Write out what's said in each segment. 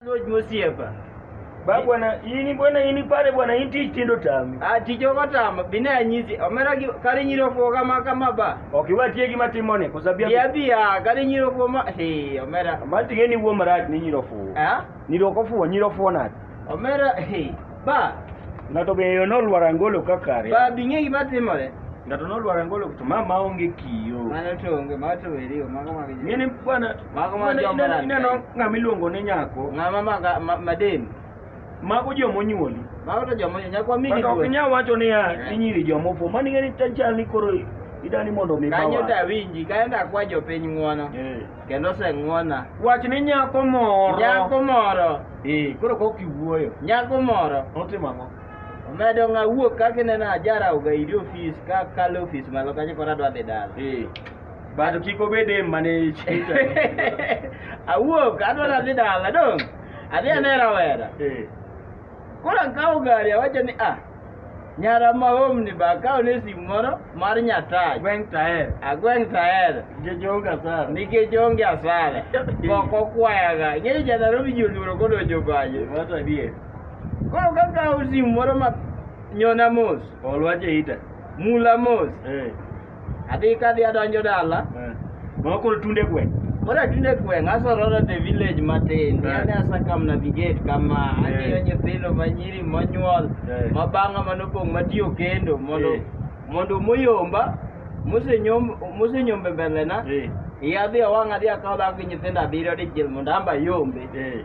Lord Musiepa. Ba bwana ini bwana ini pale bwana inti tindo tami. Ati jogo tama bine anyisi omera gi kare nyiro fo kama kama ba. Okiwa tie gi matimone kusabia. Bia bia kare nyiro fo ma he omera. Mati geni wo marat ni nyiro fo. Eh? Nyiro ko fo nyiro fo na. Omera he. Ba. Ng'ato be yo nolwar angolo ka kare. Ba bing'e gima timore. Ng'ato nolwar angolo to ma ma onge kiyo. Mano to onge, ma to weri, mago ma gijo. Ng'ene bwana. Mago ma jo mara. Ineno ng'ama iluongo ni nyako. Ng'ama ma maden. Mago jo monyuoli. Mago to jo monyuoli. Nyako migi. Mago ok nyal wacho ni ya eh. inyiri jo mopo. Mani ng'eni tanchal ni koro idani mondo mi bawa. Kanyo da winji, kanyo da kwa jo piny ng'wono. Eh. Kendo oseng'wona. Wach ni nyako moro. Nyako moro. Ee, koro kok iwuoyo. Nyako moro. Otimo ang'o? Omedo ng'a wuok kaka ineno ajara ogaidi ofis ka kalo ofis malo kacha koro adwa dhi dala. Ee. Bado kik obed em mane chita. Awuok adwa dhi dala dong. Adhi anera wera. Ee. Koro akawo gari awacho ni ah, nyara ma omni ba akawo ne simu moro mar nyatach Gweng' taer. agweng' taere Nikech onge asara. nikech onge asara ok okwayaga ng'eyo ja Nairobi ji oluoro kodonjo pache Wato adier. koro kakawo simu moro ma nyona mos Ol wach e ita. mula mos Eh. Adhi ka adhi adonjo dala. Eh. Mama koro tunde gweng'. Koro atunde gweng' asororo the village matin. Eh. Yani asa kam navigate kama eh. ang'iyo nyithindo manyiri monyuol eh. ma bang'a manopong' matiyo kendo mondo eh. mondo moyomba mosenyom mosenyombe mbelena. Eh. Iya adhi awang' adhi akaw dhako gi nyithindo abiriyo dichiel mondo amba yombe. Eh.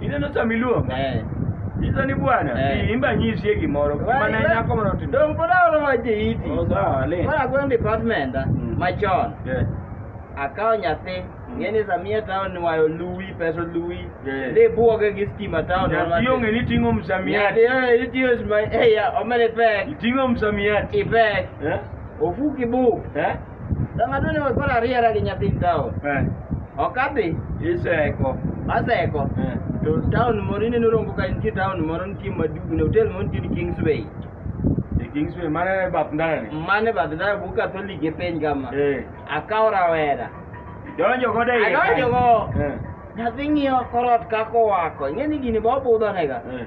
Ineno sama iluonga? Eh. Iso ni bwana, eh. imba nyisie gimoro. Mane nyako moro timo. Dong pod aolo ma jeiti. Oh, sawa, le. Mara gweng department ah, mm. machon. Yeah. Akawo nyathi mm. ngeni samia town wayo luwi peso luwi yeah. de buoge gi stima town nyathi onge ni ting'o msamiat nyathi eh, itiyo sma eh ya omele pek iting'o msamiat ipek yeah. ofuki buk eh? Ng'ato ni koro ariera gi nyathi taon. Eh. Ok adhi. Iseko. Aseko. Eh. To taon moro ineno rongo ka nitie taon moro nitie maduong' ne hotel moro nitie ni Kingsway. E Kingsway mane e bath ndara ni? Mane e bath ndara bu Katholik e piny kama. Eh. Akawo rawera. Donjo go dai. Adonjo go. Eh. Nyathi ng'iyo korot kako wako. Ing'e ni gini ba obudho nega. Eh.